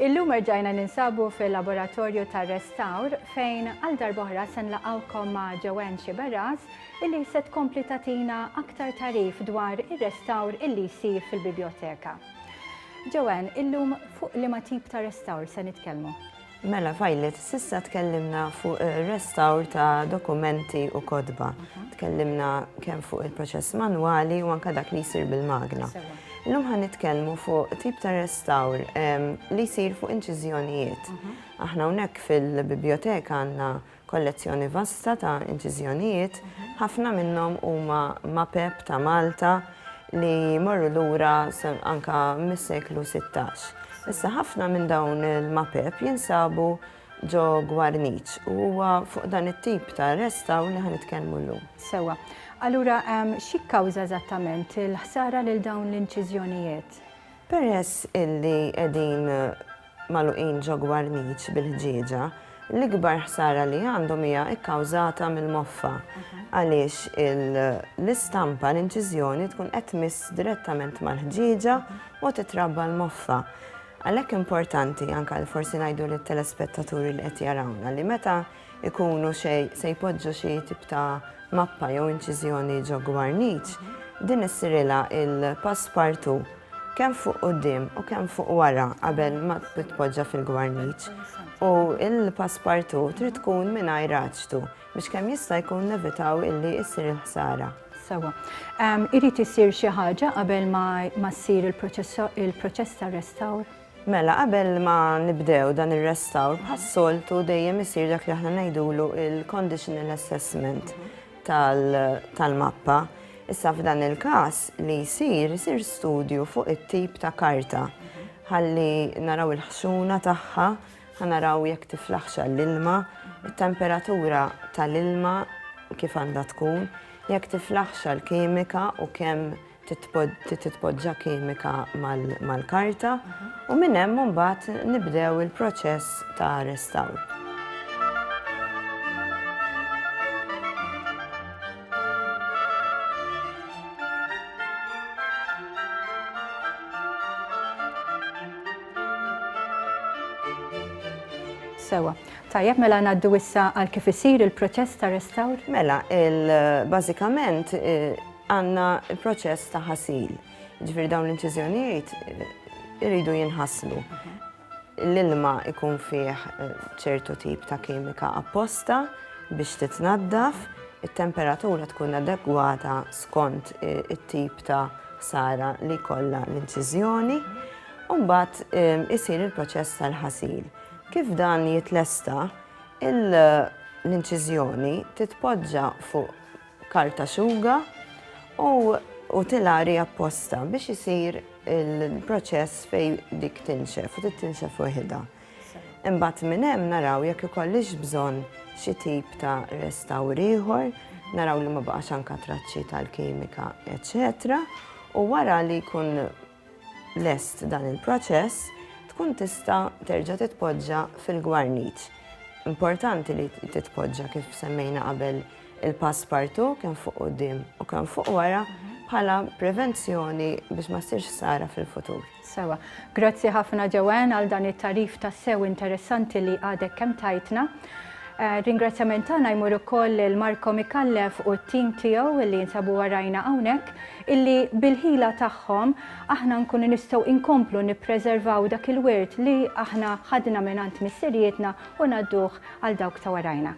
Illum erġajna ninsabu fil-laboratorju tar restawr fejn għal darbohra sen laqawkom ma' Joanne Xiberras illi se tkompli tatina aktar tarif dwar ir-restawr illi jsir fil-biblioteka. Joanne, illum fuq li ma tip ta' restawr se nitkellmu? Mela Violet, s'issa tkellimna fuq ir-restawr ta' dokumenti u kotba. Tkellimna kemm fuq il-proċess manwali u anke dak li jsir bil-magna. Illum ħa nitkellmu fuq tip ta' restawr li jsir fuq inċiżjonijiet. Aħna hawnhekk fil-bibjoteka għandna Kollezzjoni vasta ta' inċiżjonijiet, ħafna minnhom huma mapep ta' Malta li jmorru lura anke mis-seklu sittax. Issa ħafna minn dawn il-mapep jinsabu ġo Gwarniċ u huwa fuq dan it-tip ta' restawr li ħa nitkellmu llum. Sewwa. Allura xi kkawża eżattament il-ħsara lil dawn l-inċiżjonijiet? Peress illi qegħdin magħluqin ġo gwarniċ bil-ħġieġa, l-ikbar ħsara li għandhom hija kkawżata mill-moffa għaliex l-istampa, l-inċiżjoni tkun qed tmiss direttament mal-ħġieġa u titrabba l-moffa. Għalhekk importanti anke forsi ngħidu lit-telespettaturi li qed jarawna li meta ikunu se jpoġġu xi tip ta' mappa jew inċiżjoni ġo gwarniċ, din issirilha il-passepartout kemm fuq quddiem u kemm fuq wara qabel ma titpoġġa fil-gwarniċ u l-passepartout trid tkun mingħajr raġtu biex kemm jista' jkun nevitaw illi ssir il-ħsara. Sewa. Irid isir xi ħaġa qabel ma ssir il-proċess ta' restawr? Mela qabel ma nibdew dan ir-restawr bħas-soltu dejjem isir dak li aħna ngħidulu il-conditional assessment tal-mappa. Issa f'dan il-każ li jsir, isir studju fuq it-tip ta' karta. Ħalli naraw il-ħxuna tagħha, ħa naraw jekk tiflaħx għall-ilma, it-temperatura tal-ilma kif għandha tkun, jekk tiflaħx għall-kimika u kemm titpoġġa kimika mal-karta u minn hemm imbagħad nibdew il-proċess ta' restawr. Sewa, tajjeb mela ngħaddu issa għal kif isir il-proċess ta' restawr? Mela, bażikament Għandna l-proċess ta' ħasil, jiġifieri dawn l-inċiżjonijiet iridu jinħaslu. L-ilma jkun fih ċertu tip ta' kimika apposta biex titnaddaf, it-temperatura tkun adegwata skont it-tip ta' ħsara li jkollha l-inċiżjoni, u mbagħad isir il-proċess tal-ħasil. Kif dan jitlesta, l-inċiżjoni titpoġġa fuq karta xuga u utilari apposta biex isir il-proċess fejn dik tinxef u tinxef weħidha. Imbagħad minn hemm naraw jekk ikollix bżonn xi tip ta' restawr ieħor, naraw li ma baqax anka traċċi tal-kimika, eċċetera. U wara li jkun lest dan il-proċess, tkun tista' terġa' titpoġġa fil-gwarniċ. Importanti li titpoġġa kif semmejna qabel il-passpartu kemm fuq quddiem u kemm fuq wara bħala prevenzjoni biex ma ssirx sara fil-futur. Sewa. Grazzi ħafna Joanne għal dan it-tarif ta' sew interessanti li għadek kemm tajtna. Ringrazzjament tagħna jmur ukoll lil Marco Micallef u t-tim tiegħu li jinsabu warajna hawnhekk illi bil-ħila tagħhom aħna nkunu nistgħu inkomplu nippreservaw dak il-wirt li aħna ħadna mingħand missirijietna u ngħadduh għal dawk ta' warajna.